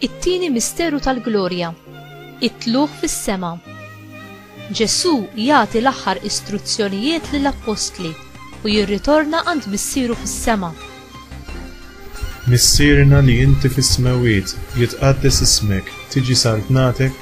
It-tieni misteru tal-glorja, it-tlugħ fis-sema. Ġesù jagħti l-aħħar istruzzjonijiet lill-appostli u jirritorna għand Missieru fis-sema. Missierna li inti fis-smewwiet, jitqaddes ismek, tiġi saltnatek,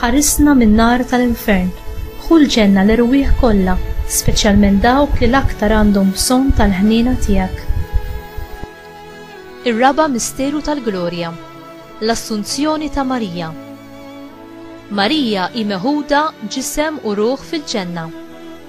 Ħarisna min-nar tal-infern. Ħu l-ġenna l-erwieħ kollha, speċjalment dawk li l-aktar għandhom bżonn tal-ħniena tiegħek. Ir-raba' misteru tal-glorja, l-Assunzjoni ta' Marija. Marija hi meħuda ġisem u ruħ fil-ġenna.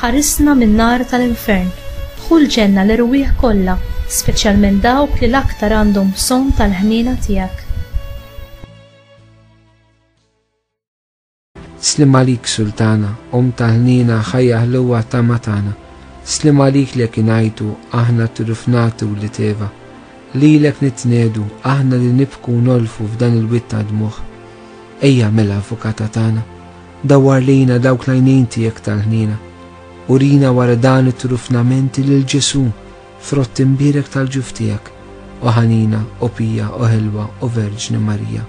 Ħarisna min-nar tal-infern. Dħul ġenna l-erwieħ kollha, speċjalment dawk li l-aktar għandhom bżonn tal-ħniena tiegħek. Sliem għalik Sultana, Omm ta' ħniena, ħajja ħluwa tama tagħna. Sliem għalik lek ingħajtu, aħna t-trufnati u l-iteva. Lilek nitnedu, aħna li nibku u nolfu f'dan il-wied ta' dmugħ. Ejja mela Avukata tagħna. Dawwar lejna dawk l-għajnejn tiegħek tal-ħniena. Urina wara dan it-trufnament lil Ġesù, frott imbierek tal-ġuf tiegħek, o ħanina, o pija, o ħelwa, o Verġni Marija.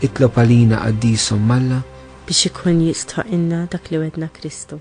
Itlob għalina, Qaddisa Omm Alla. Biex ikun jistħoqqilna dak li wegħdna Kristu.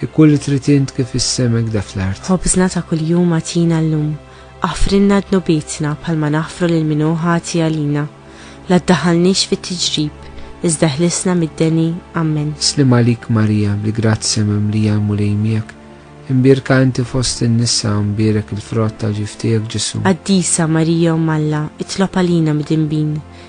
Hi kull li trid int kif fis-sema hekda fl-art. Ħobżna ta' kuljum agħtina llum. Aħfrilna dnubietna bħalma naħfru lil min hu ħati għalina. La ddaħħalniex fit-tiġrib, iżda ħlisna mid-deni. Ammen. Sliem għalik Marija, bi grazzja mimlija l-Mulej miegħek, imbierka inti fost in-nisa u mbierek il-frott ta' ġiftijek Ġesu'. Qaddisa Marija Omm Alla, itlob għalina midinbin.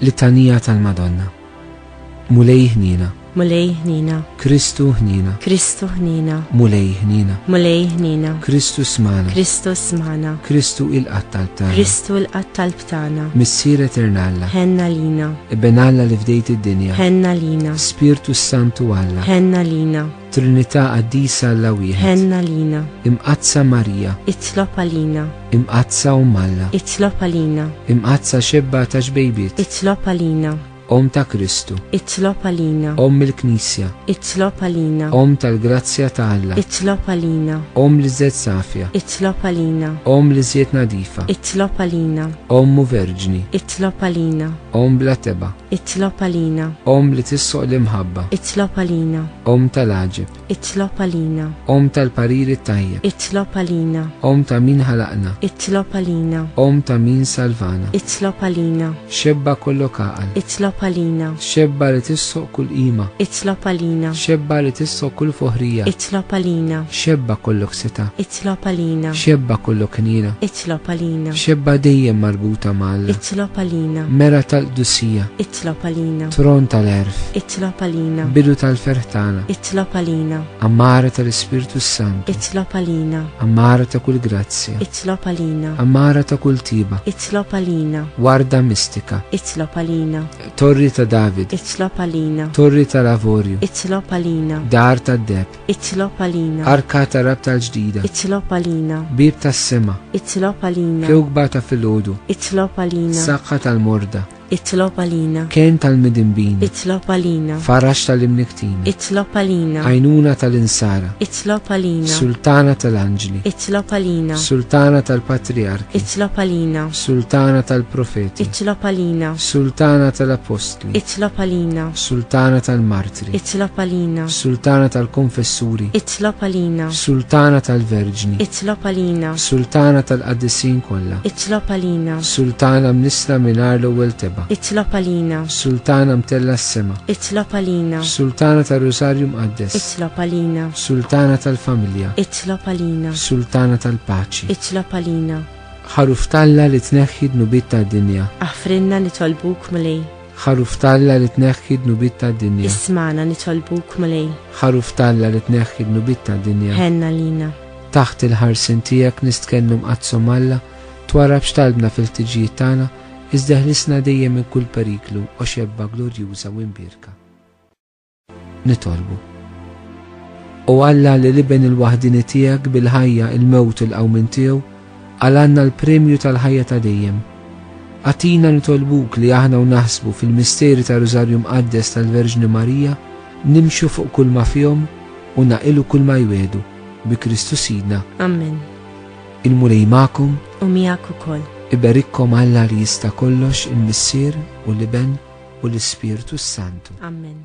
Littanija tal-Madonna. Mulej ħnina. Mulej ħnina. Kristu ħnina. Kristu ħnina. Mulej ħnina. Mulej ħnina. Kristu smana. Kristu smana. Kristu il-qatt tal-btana. Kristu il-qatt tal-btana. Missier eternalla. Henna lina. Ibben Alla li fdejt id-dinja. Henna lina. Spirtu Santu Alla. Henna lina. Trinità Qaddisa Alla Wieħed. Ħenna lina. Imqadsa Marija. Itlob għalina. Imqadsa Umm Alla. Itlob għalina. Imqadsa xebba ta' ġbejbiet. Itlob għalina. Om ta' Kristu. Itlob għalina. Om il-Knisja. Itlob għalina. Om tal-grazzja ta' Alla. Itlob għalina. Om li żed safja. Itlob għalina. Om li żjed nadifa. Itlob għalina. Ommu verġni. Itlob għalina. Om bla teba. Itlob għalina. Om li tissoq l-imħabba. Itlob għalina. Om tal-għaġib. Itlob għalina. Om tal-pariri tajjeb. Itlob għalina. Om ta' min ħalaqna. Itlob għalina. Om ta' min salvana. Itlob għalina. Xebba kollu kaqal. Itlob għalina. Xebba li tissoq kull ima. Itlob għalina. Xebba li tissoq kull foħrija. Itlob għalina. Xebba kollu ksita. Itlob għalina. Xebba kollu knina. Itlob għalina. Xebba dejjem marbuta mal. Itlob għalina. Mera tal-qdusija. Itlob għalina. Tron tal-erf. Itlob għalina. Bidu tal-ferħ tagħna. Itlob għalina. Amara tal-Ispirtu Santu. Itlob għalina. Amara ta' kull grazzja. Itlob għalina. Amara ta' kull tiba. Itlob għalina. Warda mistika. Itlob għalina. Torri ta' David. Itlob għalina. Torri tal-avorju. Itlob għalina. Dar tad-deb. Itlob għalina. Arka ta' rabta l-ġdida. Itlob għalina. Bib tas-sema. Itlob għalina. Kewkba ta' filgħodu. Itlob għalina. Saqqa tal-morda. Itlob għalina. Ken tal-midimbin. Itlob għalina. Farax tal-imniktin. Itlob għalina. Għajnuna tal-insara. Itlob għalina. Sultana tal-anġli. Itlob għalina. Sultana tal-patriark. Itlob għalina. Sultana tal-profeti. Itlob għalina. Sultana tal-apostli. Itlob għalina. Sultana tal-mart. Itlob għalina. Sultana tal-Konfessuri. Itlob għalina. Sultana tal-Verġni. Itlob għalina. Sultana tal-Qaddisin kollha. Itlob għalina. Sultana mnisla mingħajr l-ewwel teba. Itlob għalina. Sultana mtella s-sema. Itlob għalina. Sultana tar-Rusarju Mqaddes. Itlob għalina. Sultana tal-Familja. Itlob għalina. Sultana tal-Paċi. Itlob għalina. Ħaruf talla li tneħħi dnubiet tad-dinja. Aħfrinna nitolbuk mulej. Ħaruf t'Alla li tneħħi d-dnubiet tad-dinja. Ismagħna nitolbuk, Mulej. Ħaruf t'Alla li tneħħi d-dnubiet tad-dinja. Ħenna lina. Taħt il-ħarsien tiegħek nistkennu mqaddsom Alla, twarrabx talbna fil-ħtiġijiet tagħna, iżda ħlisna dejjem minn kull periklu, o xebba glorjuża u imbierka. Nitolbu. U Alla li l-Iben il-waħdini tiegħek bil-ħajja, il-mewt u l-qawmin tiegħu, għal għandna l-premju tal-ħajja ta' dejjem. Atina nitolbuk li aħna u naħsbu fil-misteri ta' Rużarju Mqaddes tal-Verġni Marija, nimxu fuq kull ma fihom u naqilu kull ma jwedu bi Kristu Sidna. Amen. Il-Mulej magħkom u miegħek ukoll. Iberikkom Alla li jista' kollox il-Missier u l-Iben u l-Ispirtu s-Santu. Amen.